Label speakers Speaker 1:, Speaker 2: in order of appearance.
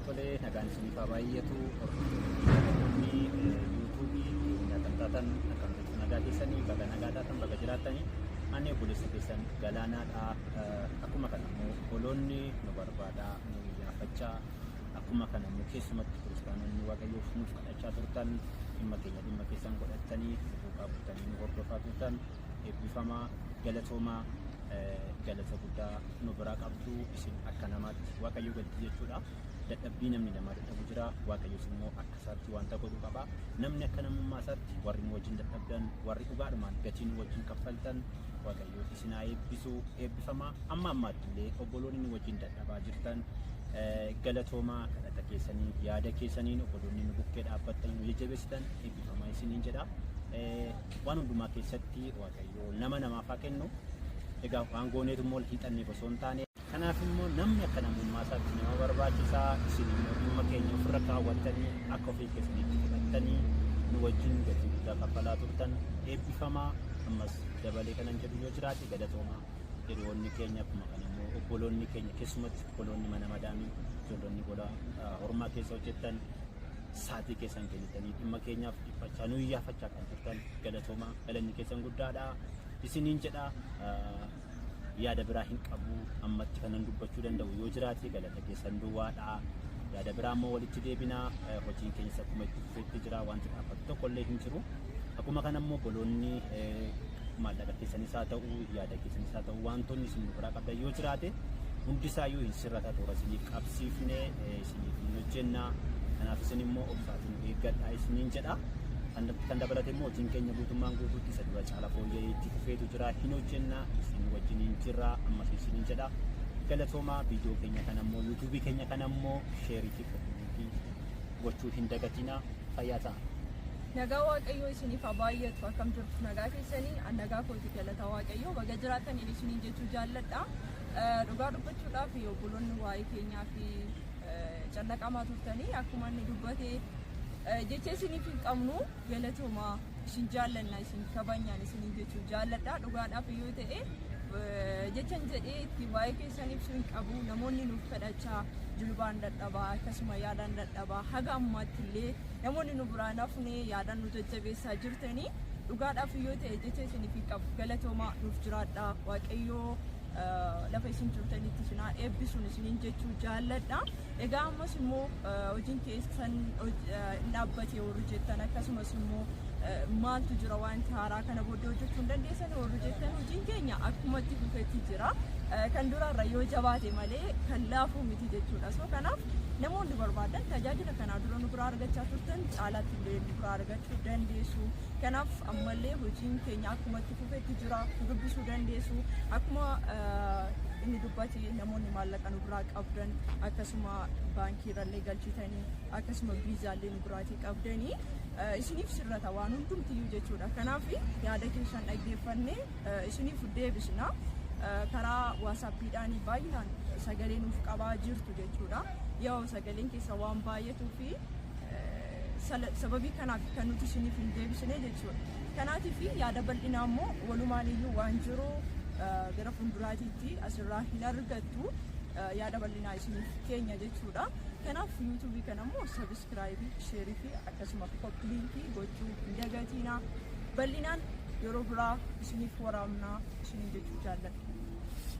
Speaker 1: Tolee nagaan isiniif haa baay'atu. Hordoftoonni yuutuubii keenyaa kan taatan akkam jirtu nagaa keessanii baga nagaa taatan baga jiraatanii ani obboleessa keessan galaanaadha. Akkuma kana immoo obboloonni nu barbaada nu iyyaafachaa akkuma kana immoo keessumatti kiristaanonni waaqayyoof nuuf kadhachaa turtan dhimma keenya dhimma keessan godhattanii duukaa buutanii nu hordofaa turtan. Eebbifamaa galatoomaa galata guddaa nu biraa qabdu isin akka namaatti waaqayyo galti jechuudha. Dadhabbii namni namaa dadhabu jira waaqayyos immoo akka isaatti wanta godhu qaba. Namni akka namummaa isaatti warri nu wajjin dadhabdan warri dhugaadhumaan gatii nu wajjin kaffaltan waaqayyo isin haa eebbisu eebbifamaa amma ammaatti illee obboloonni nu wajjin dadhabaa jirtan eh, galatoomaa kadhata keessaniin yaada keessaniin obboloonni nu bukkee dhaabbattanii nu jajjabeessitan eebbifamaa isiniin jedha. Eh, Waan hundumaa keessatti Waaqayyo nama namaaf haa kennu. Egaa waan gooneetu immoo wal hiixanneef osoo hin taane. Kanaaf immoo namni akka namummaa isaatti nama barbaachisa. Isin immoo dhimma keenya ofirra kaawwattanii akka ofii keessaniitti fudhattanii nu wajjin gatii guddaa kaffalaa turtan eebbifamaa. Ammas dabalee kanan jedhu yoo jiraate galatoomaa. Hiriyoonni keenya akkuma kana immoo obboloonni keenya keessumatti obboloonni mana madaamii ijoollonni gola hormaa keessa hojjettan saatii keessan kennitanii dhimma keenyaaf dhiphachaa nu iyyaafachaa kan turtan galatooma galanni keessan guddaadha isiniin jedha yaada biraa hin qabu ammatti kanan dubbachuu danda'u yoo jiraate galata keessan duwwaadha yaada biraa ammoo walitti deebinaa hojiin keenyas akkuma itti fufeetti jira wanti dhaabbattu tokko illee hin jiru akkuma kana ammoo boloonni maallaqa keessanis haa ta'u yaada keessanis haa ta'u wantoonni isin nu biraa qabdan yoo jiraate hundi isaayyuu hin sirrata toora isiniif qabsiifne eh, isiniif hin hojjenna kanaaf isin immoo obsaatiin nu eeggadhaa isiniin jedha kan kan dabalate immoo hojiin keenya guutummaan guutuutti isa dura caala fooyya'ee itti fufeetu jira hin hojjenna isin wajjiniin jirra ammas isiniin jedha galatoomaa viidiyoo keenya kana immoo yuutuubii keenya kana immoo sheerii fi koppii gochuu hin dagatinaa fayyaa ta'a. Nagaa
Speaker 2: Waaqayyoo isiniif haa baay'atu akkam jirtu nagaa keessanii an nagaa kooti galata Waaqayyoo baga jiraatan inni isiniin jechuu jaalladha. Eh, Dhugaa dubbachuudhaaf obboloonni waa'ee keenyaa fi eh, callaqamaa turtanii akkuma inni dubbate eh, jecha isiniif hin qabnu. Galatomaa isin jaallanna isin kabanyaan isiniin jechuun jaalladhaa dhugaadhaaf yoo ta'e jechan jedhee itti waa'ee keessan ibsuu hin qabu namoonni nuuf kadhachaa jilbaan dadhabaa akkasuma yaadaan dadhabaa haga ammaatti illee namoonni nu biraa nafne yaadaan nu jajjabeessaa jirtanii dhugaadhaaf yoo ta'e jecha isiniif hin qabu galatoomaa nuuf jiraadhaa waaqayyoo lafa isin jirtanitti isinaa eebbisuun isiniin jechuu jaalladha. Egaa ammas immoo hojiin keessan hin dhaabbate warri jettan akkasumas immoo maaltu jira wanti haaraa kana booddee hojjechuu hin dandeessan warri jettan hojiin keenya akkuma itti fufetti jira. Kan duraarra yoo jabaate malee kan laafuu miti jechuudha. So kanaaf namoonni barbaadan tajaajila kanaa dura nu biraa argachaa turtan caalaatti illee nu biraa argachuu dandeessu. Kanaaf ammallee hojiin keenya akkuma itti fufetti jira. Nu dubbisuu dandeessu. Akkuma inni dubbate namoonni maallaqa nu biraa qabu. qabdan akkasuma baankii irrallee galchitanii akkasuma viizaallee nu biraatii qabdanii eh, isiniif sirrata waan hundumtiyyuu jechuudha kanaaf yaada keessan dhaggeeffannee eh, isiniif deebisna Eh, karaa waasaappiidhaan baay'inaan sagalee nuuf qabaa jirtu jechuudha yoo sagaleen keessa waan baay'atuu fi eh, sala- sababii kanaaf kan nuti isiniif hin deebisne jechuudha kanaatiif yaada bal'inaa immoo walumaan iyyuu waan jiru eh, gara fuulduraatiitti asirraa hin argatu jirtu yaada bal'inaa isiniif keenya jechuudha. Kanaaf yuutuubii kana immoo sabiskiraayibii, sheerii fi akkasuma koppiliinkii gochuu hin dagatiinaa. Bal'inaan yeroo biraa isiniif waraabnaa isiniin jechuu jaalladha.